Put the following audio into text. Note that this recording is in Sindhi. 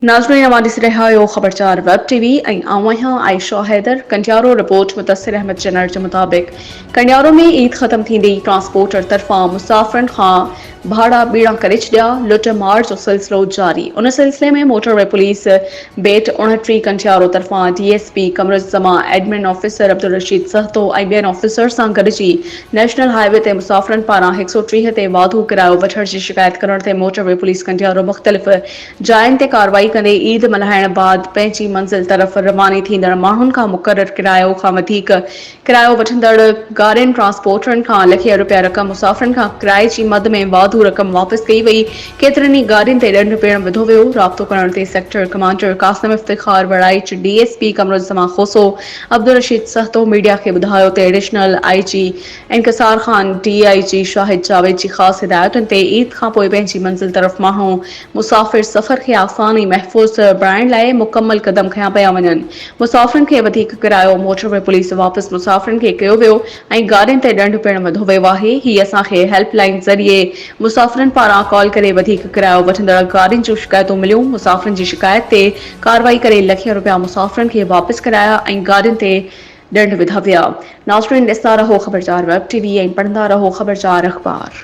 ناظرين اوهان ڏسي رهيا آهيو خبر چار ويب ٽي وي ۽ آئون آهيان عائشه حيدر ڪنڊيارو رپورٽ مدثر احمد چنڙ جي مطابق ڪنڊيارو ۾ عيد ختم ٿيندي ئي ٽرانسپورٽر طرفان مسافرن کان ڀاڙا ٻيڻا ڪري ڇڏيا، لٽ مار جو سلسلو جاري ان سلسلي ۾ موٽر وي پوليس بيٽ اوڻٽيهه ڪنٽيارو طرفان D S P Qamaruzzaman, admin officer Abdulrashid Sahto ۽ ٻين آفيسرز سان گڏجي نيشنل هاء وي تي مسافرن پاران هڪ سؤ ٽيهه تي واڌو ڪرايو وٺڻ جي شڪايت ڪرڻ تي موٽر وي پوليس ڪنٽيارو مختلف جاين تي ڪارروائي ڪندي عيد ملهائڻ بعد پنهنجي منزل طرف رواني ٿيندڙ ماڻهن کان مقرر ڪرايو کان وڌيڪ ڪرايو وٺندڙ گاڏين ٽرانسپورٽرن کان لکين رپيا رقم مسافرن کان ڪرائي جي مد ۾ واڌو رقم واپس ڪئي وئي، ڪيترن ئي گاڏين تي ڏنڊ پڻ وڌو ويو، رابطو ڪرڻ تي sector commander Qasim Iftikhar Waraich, D S P Qamaruzzaman Khoso, Abdul Rasheed Sahto media کي ٻڌايو ته ايڊيشنل آء جي انڪسار خان ڊي آء جي شاهد جاويد جي خاص هدايتن تي عيد کانپوء پنهنجي منزل طرف ماڻهو مسافر سفر کي آسان ۽ محفوظ بڻائڻ لاء مڪمل قدم کنيا پيا وڃن، مسافرن کي وڌيڪ ڪرايو موٽروي پوليس واپس مسافرن کي ڪيو ويو ۽ گاڏين تي ڏنڊ پڻ وڌو ويو آهي، هي اسان کي هيلپ لائين ذريعي مسافرن پاران ڪال ڪري وڌيڪ ڪرايو وٺندڙ گاڏين جون شڪايتون مليون، مسافرن جي شڪايت تي ڪارروائي ڪري لکين روپيا مسافرن کي واپس ڪرايا ۽ گاڏين تي ڏنڊ وڌا ويا. ناظرين ڏسندا رهو خبرچار ويب ٽي وي ۽ پڙهندا رهو خبرچار اخبار.